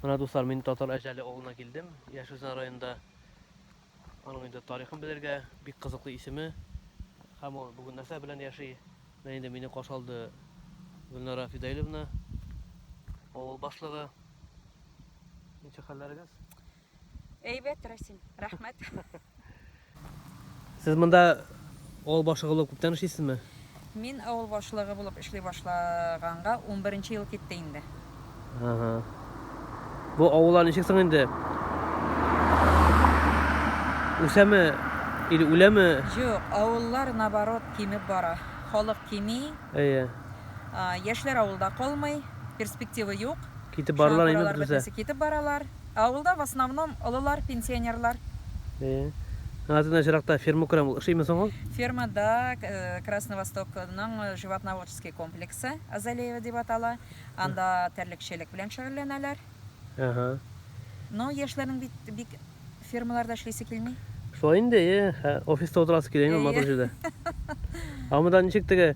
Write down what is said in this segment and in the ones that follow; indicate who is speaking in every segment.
Speaker 1: Менә дуслар, мин татар әҗәле авылына килдем. Яшь Үзән районында аның инде тарихын белергә бик кызыклы исеме. Һәм ул бүген нәрсә белән яши? Менә инде мине каршы алды Гөлнара Фидаиловна, авыл башлыгы. Ничек хәлләрегез?
Speaker 2: Әйбәт, Расим. Рәхмәт.
Speaker 1: Сез монда авыл башлыгы булып күптән эшлисезме? Мин авыл
Speaker 2: башлыгы булып эшли башлаганга 11 ел китте инде. Ага.
Speaker 1: Бу авыллар ничек соң инде? Үсәме или үләме? Юк, авыллар
Speaker 2: наоборот кимеп бара. Халык кими. Әйе.
Speaker 1: Яшьләр
Speaker 2: авылда калмый, перспектива юк. Китеп баралар инде
Speaker 1: бөтенесе. Китеп баралар.
Speaker 2: Авылда в основном олылар, пенсионерлар. Э.
Speaker 1: Аңа тиң чиракта ферма күрәм, ул ошыймы соң ул? Ферма да
Speaker 2: Красный Восток ның животноводческий комплексы, Азалеево дип атала. Анда терлекчелек белән шөгыльләнәләр. Әһә.
Speaker 1: Но
Speaker 2: яшьләрнең бит бик фермаларда эшлисе килми. Шулай инде, э,
Speaker 1: хә, офиста утырасы килә инде матур җирдә. А монда ничек теге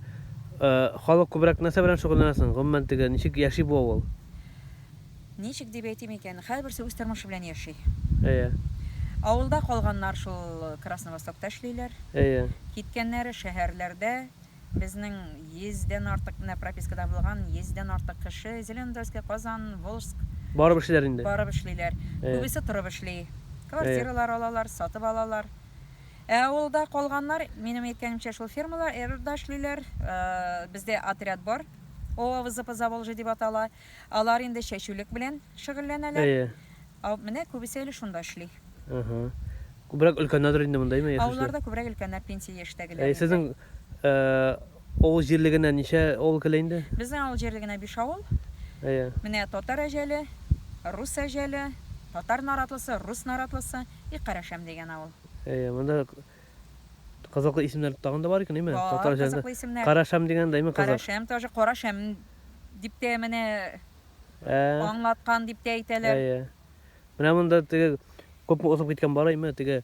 Speaker 1: э, халык күбрәк нәрсә белән шөгыльләнә соң? Гомумән теге ничек яши бу авыл?
Speaker 2: Ничек дип әйтим икән, һәрберсе үз тормышы белән яши. Әйе.
Speaker 1: Авылда
Speaker 2: калганнар шул Красновостокта эшлиләр. Әйе.
Speaker 1: Киткәннәре
Speaker 2: шәһәрләрдә. Безнең йөздән артык менә пропискада булган, йөздән артык кеше Зеленодольская, Казан, Волжск. Барып эшлиләр инде.
Speaker 1: Барып эшлиләр.
Speaker 2: Күбесе торып эшли. Квартиралар алалар, сатып алалар. Ә авылда калганнар, минем әйткәнемчә, шул фермалар, РРда эшлиләр. Бездә отряд бар. ОАВЗ по Заволжье дип атала. Алар инде чәчүлек белән шөгыльләнәләр. Әйе. Ә
Speaker 1: менә күбесе
Speaker 2: әле шунда эшли. Аһа.
Speaker 1: Күбрәк өлкәннәрдер инде монда, әйеме, яшүчеләр? Авылларда күбрәк өлкәннәр,
Speaker 2: пенсия яшьтәгеләр инде. Әйе, сезнең
Speaker 1: авыл җирлегенә ничә авыл керә инде? Безнең авыл җирлегенә
Speaker 2: биш авыл. Әйе. Менә
Speaker 1: Татар
Speaker 2: Әҗәле, Рус Әҗәле, Татар Наратлысы, Рус Наратлысы и Карашәм дигән авыл. Әйе, монда
Speaker 1: Кызыклы исемнәр тагын да бар икән, әйме? Бар, Татар җырында. кызыклы исемнәр. Карашәм
Speaker 2: дигән
Speaker 1: дә,
Speaker 2: әйме, кызык.
Speaker 1: Карашәм тоже, Карашәм
Speaker 2: дип тә менә Ә,
Speaker 1: аңлаткан дип тә
Speaker 2: әйтәләр. әйе.
Speaker 1: Менә монда теге күпме узып киткән бар, әйме, теге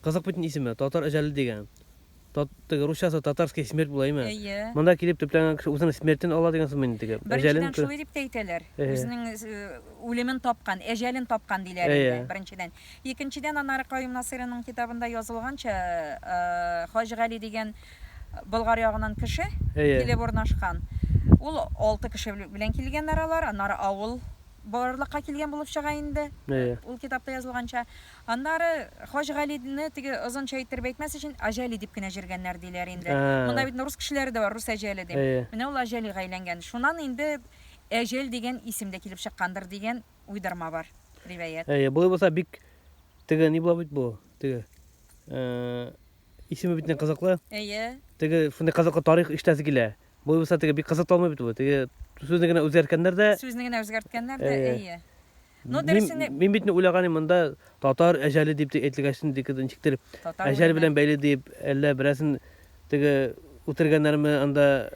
Speaker 1: кызык бит исеме, Татар әҗәле дигән. Тат, теге русчасы Татарская смерть була, әйме? Әйе. Монда килеп
Speaker 2: төпләнгән кеше
Speaker 1: үзенең смертен ала дигән сүзме инде теге? Әҗәлен Беренчедән кө- шулай дип тә
Speaker 2: әйтәләр. Әйе. Үзенең э, үлемен тапкан, әҗәлен тапкан диләр Әйе. инде, беренчедән. Икенчедән, аннары Каюм Насыйриның китабында язылганча, Хаҗ Гали дигән Болгар ягыннан кеше килеп урнашкан. Ул алты кеше белән килгәннәр алар, аннары авыл барлыкка килгән булып чыга инде, ул китапта язылганча. Аннары Хаҗ Галине теге озынча иттереп әйтмәс өчен Аҗәли дип кенә җөргәннәр диләр инде. Монда бит рус кешеләре дә бар, Рус Әҗәле дип. Менә ул Аҗәлига әйләнгән. Шуннан инде Әҗәл дигән исем дә килеп чыккандыр дигән уйдырма бар, ривәят. Әйе, болай булса бик
Speaker 1: теге ни була бит бу, теге. Э, исеме бит не кызыклы. Әйе. Теге шундый кызыклы тарих иштәсе килә. Болай булса теге бик кызык талмый бит бу. Теге сүзне генә үзгәрткәннәр дә. Сүзне генә үзгәрткәннәр дә,
Speaker 2: әйе. Ну, дөресен Мин бит не уйлаганым монда
Speaker 1: татар әҗәле дип әйтелгәчтен дип ничектер әҗәл белән бәйле дип, әллә берәсен Теге үтергәннәрме анда,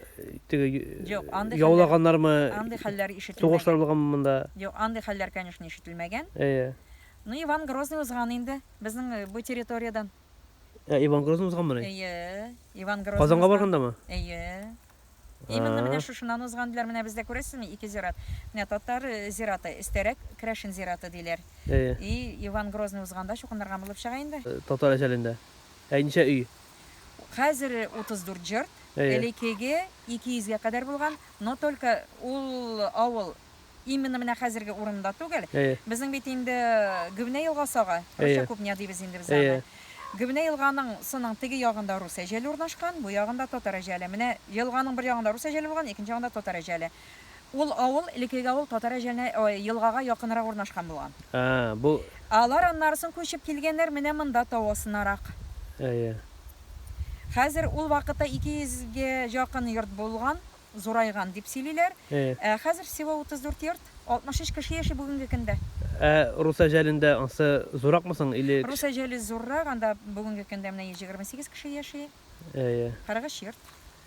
Speaker 1: теге Юк, андый хәлләр- яулаганнармы, андый хәлләр
Speaker 2: ишетелмәгән. сугышлар булганмы монда?
Speaker 1: Юк, андый хәлләр,
Speaker 2: конечно, ишетелмәгән. Әйе. Ну, Иван Грозный узган инде безнең бу территориядән. Ә Иван
Speaker 1: Грозный узганмыни? Әйе, Иван Грозный
Speaker 2: Казанга узган. баргандамы? Әйе. Именно менә А. шушыннан узган диләр. Менә бездә күрәсезме, ике зират. Менә татар зираты, өстәрәк керәшен зираты диләр. Әйе. И Иван Грозный узганда чукынырга булып чыга инде. Татар әҗәлендә.
Speaker 1: Ә ничә өй? Хәзер
Speaker 2: 34 җырт, элекеге 200 гә кадәр булган, но только ул авыл именно менә хәзерге урынында түгел. Безнең бит инде Гөбнә елгасы ага, русча Кубня дибез инде без аны. Гөбнә елганың сының теге ягында рус әҗәле урнашкан, бу ягында татар әҗәле. Менә елганың бер ягында рус әҗәле булган, икенче ягында татар әҗәле. Ул авыл, элекеге авыл, Татар Әҗәлне елгага якынрак урнашкан булган. Ә-ә, бу.
Speaker 1: Алар аннарсын
Speaker 2: күчеп килгәннәр менә монда, тау астынарак. Әйе. Хәзер ул вакытта ике йөзгә якын йорт булган, зурайган, дип сөйлиләр. Әйе. Ә хәзер всего утыз дүрт йорт, алтмыш өч кеше яши бүгенге көндә. Ә Рус
Speaker 1: Әҗәлендә ансы зурракмы соң или? Рус Әҗәле зуррак,
Speaker 2: анда бүгенге көндә менә йөз егерме сигез кеше яши. Әйе. Кырык өч йорт.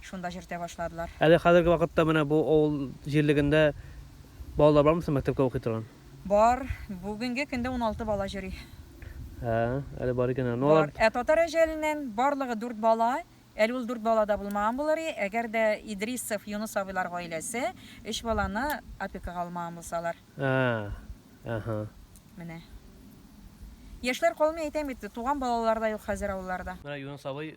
Speaker 2: шунда чертә башладылар. Әле хәзерге вакытта
Speaker 1: менә бу авыл җирлегендә балалар бармы соң мәктәпкә укый торган? Бар,
Speaker 2: бүгенге көндә уналты бала йөри. Ә,
Speaker 1: әле бар икән аны. Бар. Ә татар
Speaker 2: әҗәленнән барлыгы дүрт бала, әле ул дүрт бала да булмаган булыр и, әгәр дә Идрисов Юныс абыйлар гаиләсе өч баланы опекага алмаган булсалар. Ә,
Speaker 1: әһә. Менә.
Speaker 2: Яшьләр калмый әйтәм бит, туган балалар да юк хәзер авылларда. Менә Юныс абый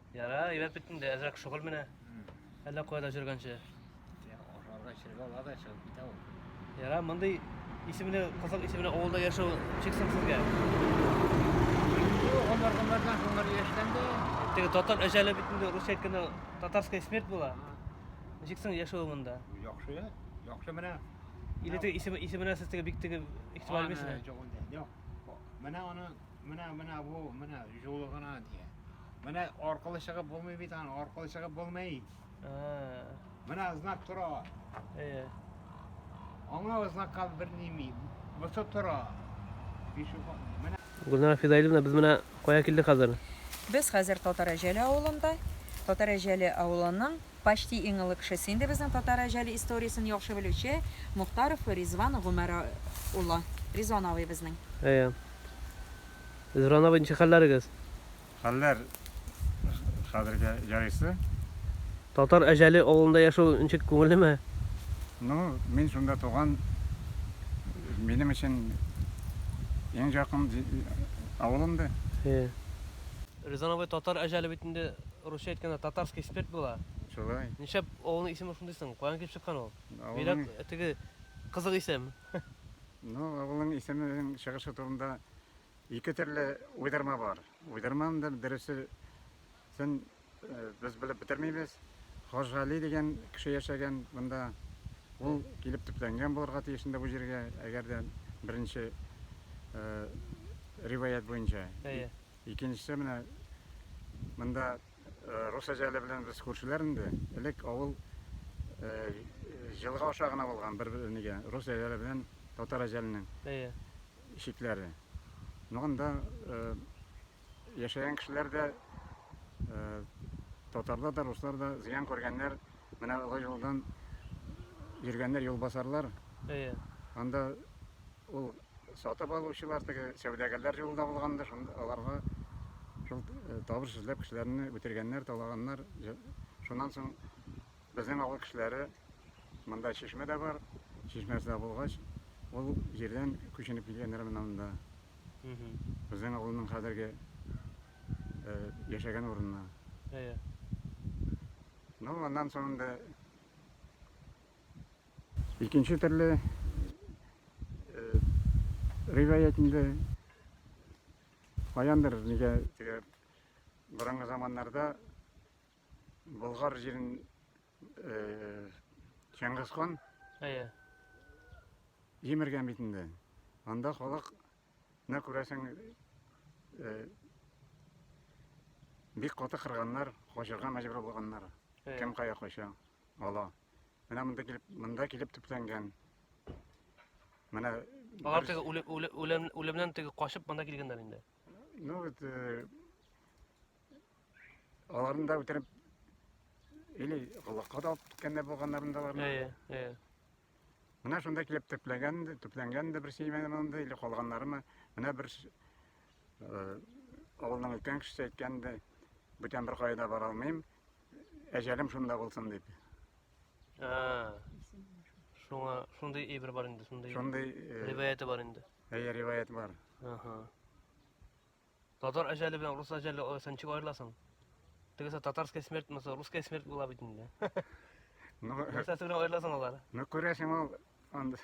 Speaker 3: Яра, әйбәт бит инде,
Speaker 1: әзрәк шөгыль менә. Әллә кая да җөргәнче.
Speaker 3: Ашарга эчәргә ала да чыгып китә ул. Яра, мондый
Speaker 1: исемле, кызык исемле авылда яшәү чиксез сезгә. Алар алардан
Speaker 3: соңлар яшьтән дә Теге татар
Speaker 1: әҗәле бит инде Русия кенә татарская смерть була. Ничек соң яшәү монда? яхшы,
Speaker 3: яхшы менә. Или теге исеме
Speaker 1: исеменә сез теге бик теге игътибар бирмисезме?
Speaker 3: Менә аны Менә, менә бу, менә җулы гына дия. Менә аркылы чыгып булмый бит аны, аркылы чыгып булмый. Менә знак тора. Әйе. Аңа знакка бер ними. Бусы тора. Менә. Гүлнара
Speaker 1: Фидаилевна, без менә кая килдек хәзер? Без хәзер
Speaker 2: Татарәҗәле авылында. Татарәҗәле авылының почти иң олы кешесе инде безнең Татарәҗәле историясен яхшы белүче Мухтаров Ризван Гомәр улы. Ризван абый безнең. Әйе.
Speaker 1: Зуран абый, ничек хәлләрегез? Хәлләр
Speaker 4: хәзергә ярыйсы. Татар
Speaker 1: Әҗәле авылында яшәү ничек, күңеллеме? Ну,
Speaker 4: мин шунда туган, минем өчен иң якын авылым да. Һе.
Speaker 1: Резан абый, Татар Әҗәле бит инде русча әйткәндә Татарский спирт була. Шулай. Нишләп
Speaker 4: авылның исеме
Speaker 1: шундый соң? Каян килеп чыккан ул? Бигрәк теге кызык исем. Ну,
Speaker 4: авылның исеменең чыгышы турында ике төрле уйдырма бар. Уйдырманың да дөресен без белеп бетермибез. Хаҗгали дигән кеше яшәгән монда. Ул килеп төпләнгән булырга тиеш инде бу җиргә, әгәр дә беренче риваять буенча. Әйе. Икенчесе менә монда Рус әҗәле белән без күршеләр инде. Элек авыл җылга аша гына булган бер нигә рус әҗәле белән татар әҗәленең Әйе. чикләре. Ну анда яшәгән кешеләр дә татарлар да, руслар да зыян күргәннәр. Менә олы юлдан йөргәннәр юлбасарлар. Әйе. Анда Ул сатып алучылар теге сәүдәгәрләр җулында булгандыр, шунда аларга шул э, табыш эзләп кешеләрне үтергәннәр, талаганнар. Җ- Шуннан соң безнең авыл кешеләре монда чишмә дә бар, чишмәсе дә булгач, ул җирдән күченеп килгәннәр менә монда. Мгм. Безнең авылның хәзерге э, яшәгән урынына. Әйе. Ну, аннан соң инде Икенче төрле риваять инде каяндыр нигә теге борынгы заманнарда Болгар җирен Чыңгыз хан әйе җимергән бит инде. Анда халык нә күрәсең бик каты кырганнар, качырга мәҗбүр булганнар. Кем кая кача, ала. Менә монда килеп, монда килеп төпләнгән. Менә Алар
Speaker 1: теге үлем, үлемнән теге качып монда килгәннәр инде. Ну вот э,
Speaker 4: аларны да үтереп или колакка да алып киткәндә булганнарын да бар. Әйе, әйе. Менә шунда килеп төпләгән, төпләнгән дә бер симәне монда или калганнарымы? Менә бер э, авылның өлкән кешесе әйткән дә бүтән бер кайда бара алмыйм, әҗәлем шунда булсын дип. А.
Speaker 1: Шуңа шундый әйбер бар инде, шундый. Шундый э, риваяте
Speaker 4: бар инде.
Speaker 1: Әйе, риваять бар. Ага. Татар әҗәле белән рус әҗәле алсаң ничек аерыласың? Тегесе татарская смерть, маса русская смерть була бит инде. Ну, Нәрсәсе белән аерыласың алар? Ну, күрәсең ул
Speaker 4: анда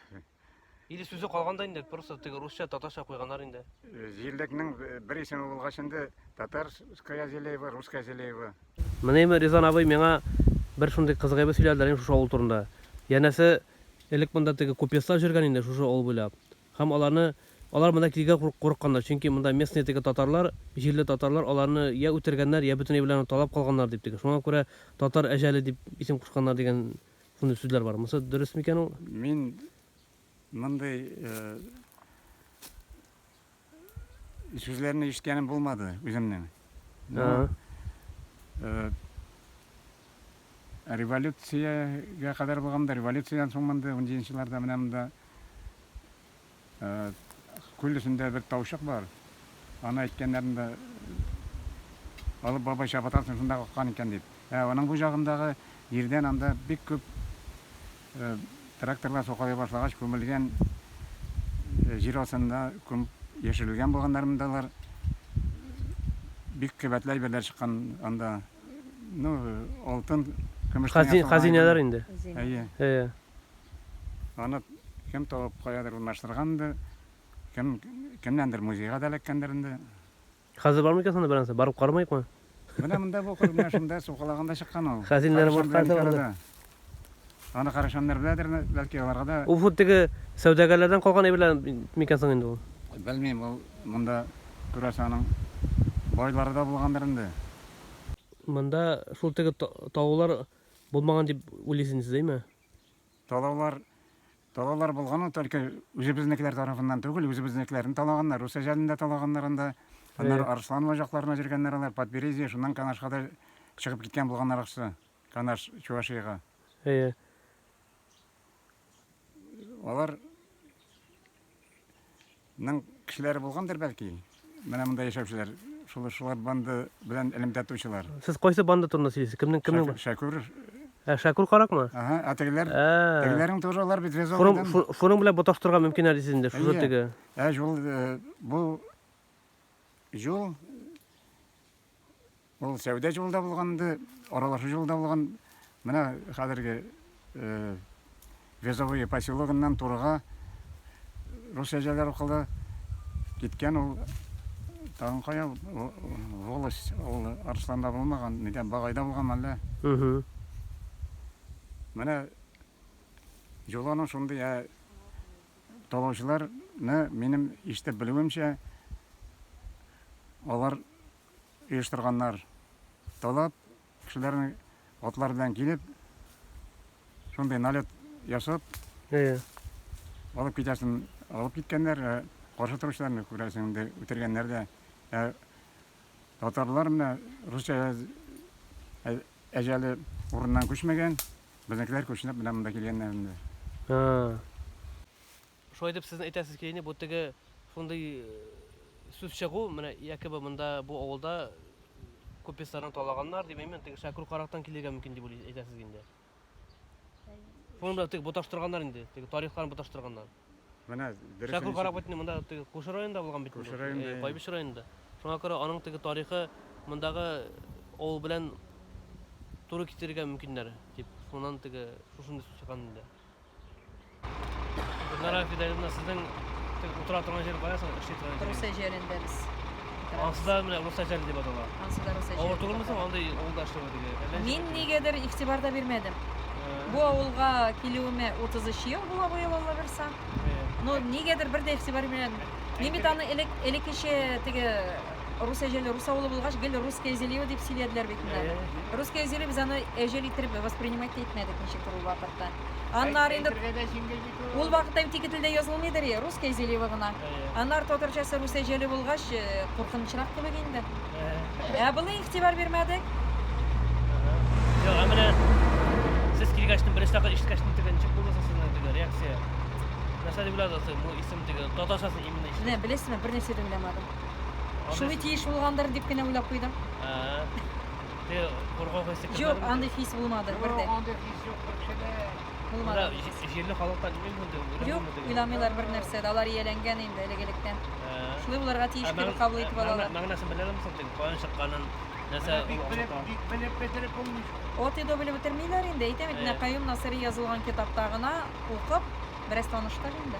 Speaker 4: Или
Speaker 1: сүзе калган да инде, просто теге русча, татарча куйганнар инде. Э, җирлекнең
Speaker 4: э, бер исеме булгач инде татарская Зелеева, русская Зелеева. Менеме Ризан
Speaker 1: абый миңа бер шундый кызык әйбер сөйләделәр инде шушы авыл турында. Янәсе, элек монда теге купецлар җөргән инде шушы авыл буйлап. Һәм аларны алар монда килгә курыкканнар, чөнки монда местные теге татарлар, җирле татарлар аларны я үтергәннәр, я бөтенләй белән талап калганнар дип теге. Шуңа күрә татар әҗәле дип исем кушканнар дигән Шундый сүзләр бар. Монысы дөрес микән ул? Мин
Speaker 4: мондый э, сүзләрне ишеткәнем булмады үземнең. Ну, Ага. э, революциягә кадәр булганда, революциядән соң монда 17 елларда менә монда Күл өстендә бер таучык бар. Аны әйткәннәрен дә алып бабай чабатасын шунда каккан икән дип. Ә аның бу җагындагы җирдән анда бик күп тракторлар сукалый башлагач күмелгән җир астында күмеп яшерелгән булганнармы да алар. Бик кыйбатлы әйберләр чыккан анда. Ну, алтын, көмештән ясалган. Хазин, хазинәләр инде.
Speaker 1: Әйе. Әйе.
Speaker 4: Аны кем табып, каядыр урнаштыргандыр, кем, кемнәндер музейга да эләккәндер инде. Хәзер бармы
Speaker 1: икән соң анда бер нәрсә? Барып карамыйкмы? Менә монда бу
Speaker 4: кыр, менә шунда сукалаганда чыккан ул. Хәзинәләр Карашан белән икән
Speaker 1: арада.
Speaker 4: Аны карашаннар беләдер, бәлки аларга да. Ул хут теге
Speaker 1: сәүдәгәрләрдән калган әйберләр микән соң инде ул? Белмим, ул
Speaker 4: монда, күрәсең, аның байлары да булгандыр инде. Монда
Speaker 1: шул теге та, таулар булмаган дип уйлыйсыз инде сез, әйме? Талаулар
Speaker 4: талаулар булган ул только үзебезнекеләр тарафыннан түгел, үзебезнекеләрне талаганнар, рус әҗәлендә талаганнар анда. Аннары Арслан ваҗакларына җөргәннәр алар, Подберезье, шуннан Канашка да чыгып киткән булганнар акчасы. Канаш Чувашиягә. Әйе. Алар Ның кешеләре булгандыр бәлки. Менә монда яшәүчеләр, шулар шулар банда белән элемтә тучылар. Сез кайсы банда турында
Speaker 1: сөйлисез? Кемнең кемнең? Шәкүр.
Speaker 4: Ә Шәкүр
Speaker 1: каракмы? Ага, ә тегеләр? Тегеләрнең
Speaker 4: тоже алар бит вязовыйдан. Шуның шуның белән боташтырырга
Speaker 1: мөмкин әле сезне, шушы теге. Ә җул
Speaker 4: бу җул Ул сәүдә җылы да булган инде, аралашу җылы да булган. Менә хәзерге Везовые поселогыннан турыга рус әҗәләр укылы киткән ул тагын кая волость ул Арсланда булмаган, нидә Багайда булган әллә. Менә Җоланың шундый ә талаучыларны минем ишетеп белүемчә алар оештырганнар. Талап кешеләрнең атлар белән килеп, шундый налет ясап, Әйе. алып китәсен алып киткәннәр, ә каршы торучыларны күрәсең инде үтергәннәр дә. Ә татарлар менә русча ә- әҗәле урыннан күчмәгән, безнекеләр күченеп менә монда килгәннәр инде. А.
Speaker 1: Шулай дип сезнең әйтәсез килени бу теге шундый сүз чыгу менә якобы монда бу авылда купецларны талаганнар дип әймен теге шәкүр карактан килергә мөмкин дип уйлый әйтәсез инде шуны белән теге боташтырганнар инде теге тарихларын боташтырганнар менә
Speaker 4: дөрес шәкүр карак бит инде
Speaker 1: монда теге кушы районында булган бит кушы районында байбич районында шуңа күрә аның теге тарихы мондагы авыл белән туры китерергә мөмкиннәр дип шуннан теге шушындый сүз чыккан инде Гөлнара Фидәгызна, сезнең утыра торган җир кая соң? Эшли торган җир. Русия җирендә
Speaker 2: без. Ансы да менә
Speaker 1: Русия җире дип атала. Ансы да Русия җире. Авыр түгелме
Speaker 2: соң андый
Speaker 1: авылда эшләү диге? Мин нигәдер игътибар
Speaker 2: да бирмәдем. Бу авылга килүемә 33 ел була быел Алла бирса. Но нигәдер бер дә игътибар бирмәдем. Мин бит аны элек элеккечә теге Рус әҗәле, рус авылы булгач, гел русское зелье дип сөйләделәр бит инде. Русское зелье без аны әҗәл итеп воспринимать та итмәдек ничек ул вакытта. Аннары инде ул вакытта бит ике телдә язылмыйдыр и, русское зелье гына. Аннары татарчасы рус әҗәле булгач, э, куркынычрак кебек инде. Ә былай игътибар бирмәдек.
Speaker 1: Юк, менә сез килгәчтен беренче тапкыр ишеткәчтен теге ничек булды сезнең теге реакция? Нәрсә дип уйладыгыз, бу исем теге татарчасы именно ишетеп? Менә беләсезме, бернәрсә дә
Speaker 2: уйламадым. Шулай тиеш булгандыр дип кенә уйлап куйдым.
Speaker 1: Ты кургау хисе кызлар. Юк, андый хис булмады
Speaker 2: бердә. Юк, андый хис юк,
Speaker 3: кешеле. Булмады.
Speaker 1: Җирле халыктан
Speaker 2: үз монда
Speaker 1: уйламый. Юк, уйламыйлар бер
Speaker 2: нәрсә, алар ияләнгән инде элегелектән. Шулай буларга тиеш дип кабул итеп алалар. Мәгънәсен белә алмыйсың син,
Speaker 1: каян чыкканын, нәрсә булганын. Бик белеп
Speaker 3: бетереп булмый. От иде белеп
Speaker 2: бетермиләр инде, әйтәм бит, Каюм Насыри язылган китапта гына укып, бераз таныштыр инде.